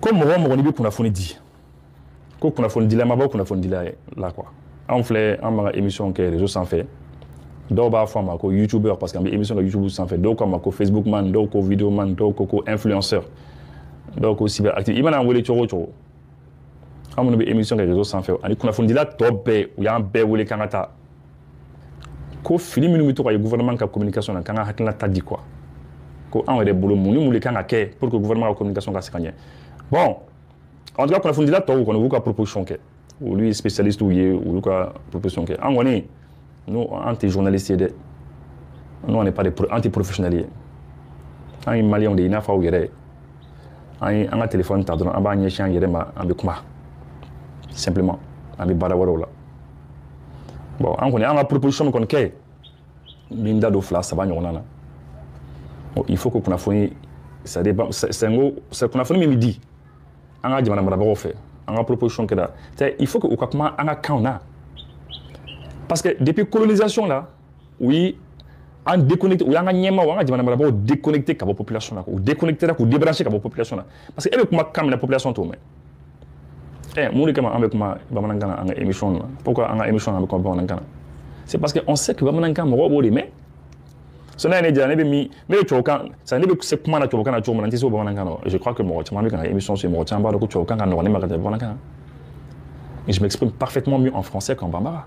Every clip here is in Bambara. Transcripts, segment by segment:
ko mɔgɔ o mɔgɔ n'i bɛ kunnafoni di ko kunnafonidila ma bɔ kunnafonidila la quoi anw filɛ an b'an ka emisiyɔn kɛ rezo sanfɛ dɔw b'a fɔ an ma ko youtubeur parce que an bɛ emisiyɔn kɛ youtube sanfɛ dɔw k'an ma ko facebook man dɔw ko video man dɔw ko ko influenceur dɔw ko cyber active i mana an wele cogo o cogo an minnu bɛ emisiyɔn kɛ rezo sanfɛ ani kunnafonidila tɔ bɛɛ u y'an bɛɛ wele k'an ka taa ko fili minnu bɛ to ka ye gouvernement ka communication na k'an ka hakilina ta di quoi ko anw yɛrɛ bolo mun ni mun de kan ka kɛ pour que gouvernement ka communication ka se ka ɲɛ bon en tout cas kunnafonidila tɔw kɔni u y'u ka proposition kɛ olu ye spécialistew ye u y'u ka proposition kɛ an kɔni nous an tɛ journaliste ye dɛ nous on n'est pas des an tɛ professionnel ye an ye maliyɛnw de ye i n'a fɔ aw yɛrɛ an ye an ka telefɔni ta dɔrɔn an b'a ɲɛsin an yɛrɛ ma an bɛ kuma simplement an bɛ baara wɛrɛw la bon an kɔni an ka proposition min kɔni kɛ n bɛ n da don fila saba ɲɔgɔnna na il faut que kunnafoni c'est à dire sango kunnafoni min bɛ di an ka jamana marabagaw fɛ an ka proposition kɛra il faut que u ka kuma an ka kanw na parce que depuis colonisation la u ye an déconnecté u y'an ka ɲɛmaaw an ka jamana marabagaw déconnecté ka bɔ population na k'u déconnecté k'u débranché ka bɔ population na parce que e bɛ kuma kan min na population t'o mɛn ɛ mun de kama an bɛ kuma bamanankan na an ka émission na pourquoi an ka émission na an bɛ kuma bamanankan na c'est parce que on sait que bamanankan mɔgɔw b'o de mɛn so n'a ye ne jira ne bɛ min ne bɛ tubabukan sa ne bɛ se kuma na tubabukan na cogo min na n tɛ se o bamanankan na je crois que mɔgɔ caman bɛ ka n ka émission suivi mɔgɔ caman b'a dɔn ko tubabukan ka nɔgɔn ne ma ka tɛmɛ bamanankan kan je m'exprime parfaitement mieux en français qu'en bambara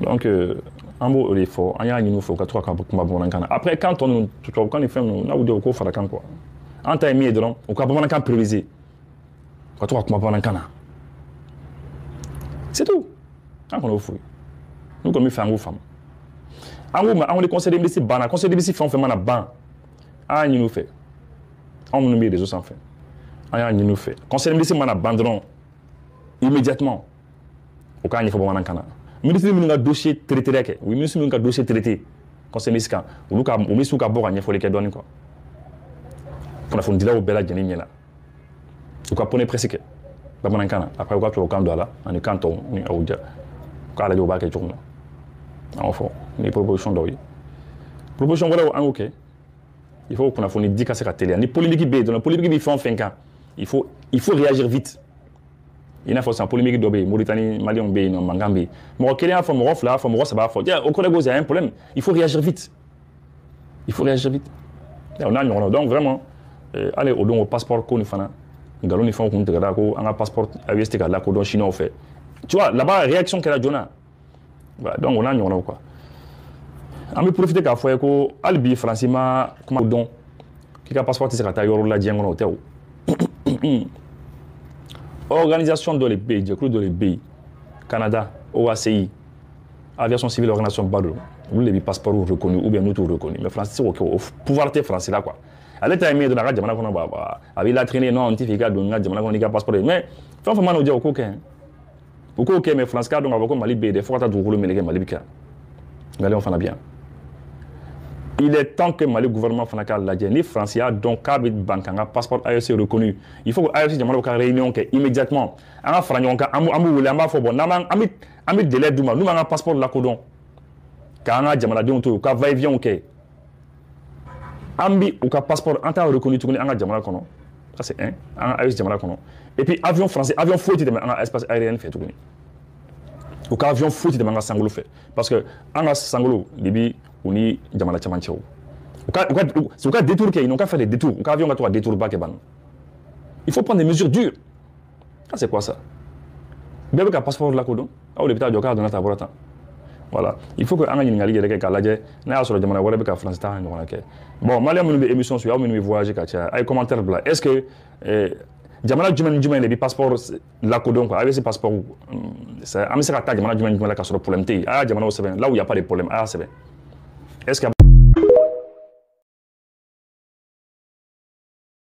donc euh, an b'o de fɔ an y'a ɲini u fɛ u ka to ka kuma bamanankan na après kan tɔ ninnu tubabukan ni fɛn ninnu n'a y'u diya u k'o fara kan quoi an ta ye min ye dɔrɔn u ka bamanankan prioriser u ka to ka kuma bamanankan na c'est tout an kɔni y'o f'u ye n'u kɔni b'a fɛ an k'u faamu an k'u ma an ko ni conseil de ministre banna conseil de ministre fɛn o fɛn mana ban an y'a ɲini u fɛ anw minnu bɛ réseau sanfɛ an y'a ɲini u fɛ conseil de ministre mana ban dɔrɔn immédiatement u k'a ɲɛfɔ bamanankan na minisiri minnu ka dossier traitéra u ye minisiri minnu ka dossier traité conseil ministre kan olu ka o minisiriw ka bɔ ka ɲɛfɔli kɛ dɔɔni quoi kunnafonidilaw bɛɛ lajɛlen ɲɛna u ka point de presse kɛ bamanankan na après u ka tubabukan don a la ani kan tɔw n'a y'u diya u k'a lajɛ u b'a kɛ cogo min na an y'o fɔ ni proposition dɔw ye proposition wɛrɛw an y'o kɛ il faut kunnafoni di ka se ka teliya ni polémique bɛ yen dɔrɔn polémique bɛ fɛn o fɛn kan il faut il faut réagir vite i n'a fɔ san polémique dɔ bɛ yen moritani maliyɛnw bɛ yen n'o mankan bɛ yen mɔgɔ kelen y'a fɔ mɔgɔ fila y'a fɔ mɔgɔ saba y'a fɔ o kɔrɔ ko il y a un problème il faut réagir vite il faut réagir vite o n'a ɲɔgɔnnaw donc vraiment euh, hali o don o passeport ko nin fana nkalon ni fɛnw kun tigɛra ko an ka passeport aes tɛ ka lakodɔn siniwaw fɛ tu vois là-bas réaction kɛra joona Voilà, donc o n'a ɲɔgɔnnaw quoi an bɛ profite k'a fɔ aw ye ko hali bi faransi ma kuma dɔn k'i ka passeport tɛ se ka taa yɔrɔ la diɲɛ kɔnɔ o tɛ o organisation dɔ de bɛ yen jɛkulu dɔ de bɛ yen canada oaci aviation civile organisation ba don olu de bɛ passeport reconnu ou bien n'u t'u reconnu mais faransi tɛ se k'o kɛ o pouvoir tɛ faransi la quoi ale ta ye min ye dɔrɔn a ka jamana kɔnɔ ba a b'i latiɲɛ non n t'a fɛ i ka don n ka jamana kɔnɔ n'i ka passeport ye mais fɛn o fɛn mana diya u ye u k'o kɛ u k'o kɛ mais faransi k'a dɔn k'a fɔ ko mali bɛ yen dɛ fo ka taa dugukolo meleke mali bɛ kɛ maliyɛnw fana bɛ yan il est temps que mali gouvernement fana k'a lajɛ ni faransi y'a dɔn k'a bɛ ban k'an ka passeport AES reconnu il faut que AES jamanaw ka réunion kɛ immédiatement an ka fara ɲɔgɔn kan an b'u wele an b'a fɔ bon n'an an bɛ an bɛ délai d'u ma n'u m'an ka passeport lakodɔn k'an ka jamanadenw to yen u ka va et vient kɛ an bi u ka passeport an t'a reconnu tuguni an ka jamana kɔnɔ ça c'est un an ka AES jamana kɔnɔ et puis avion français avion foyi tɛ tɛmɛ an ka espace aérien fɛ tuguni u ka avion foyi tɛ tɛmɛ an ka sankolo fɛ parce que an ka sankolo de bi u ni jamana caman cɛ u ka u ka u ka détour kɛ ils n'ont qu'à faire des détours u ka avion ka to ka détour ba kɛ ban il faut prendre des mesures dures ah c'est quoi ça bɛɛ bɛ ka passeport lakodɔn aw de bɛ taa jɔ k'a donna ta bɔra tan voilà il faut que an ka ɲininkali yɛrɛ kɛ k'a lajɛ n'a y'a sɔrɔ jamana wɛrɛ bɛ ka faransi ta ɲɔgɔnna kɛ bon maliyɛn minnu bɛ émission suivre aw minnu bɛ voyage ka caya a ye commentaire bila est ce que eh, jamana jumɛn ni jumɛn de bɛ passeport lakodɔn quoi avec ce passeport an bɛ se ka taa jamana jumɛn ni jumɛn la k'a sɔrɔ problème tɛ yen a y'a jamanaw sɛbɛn là où il y a pas de problème a y'a sɛbɛn est ce que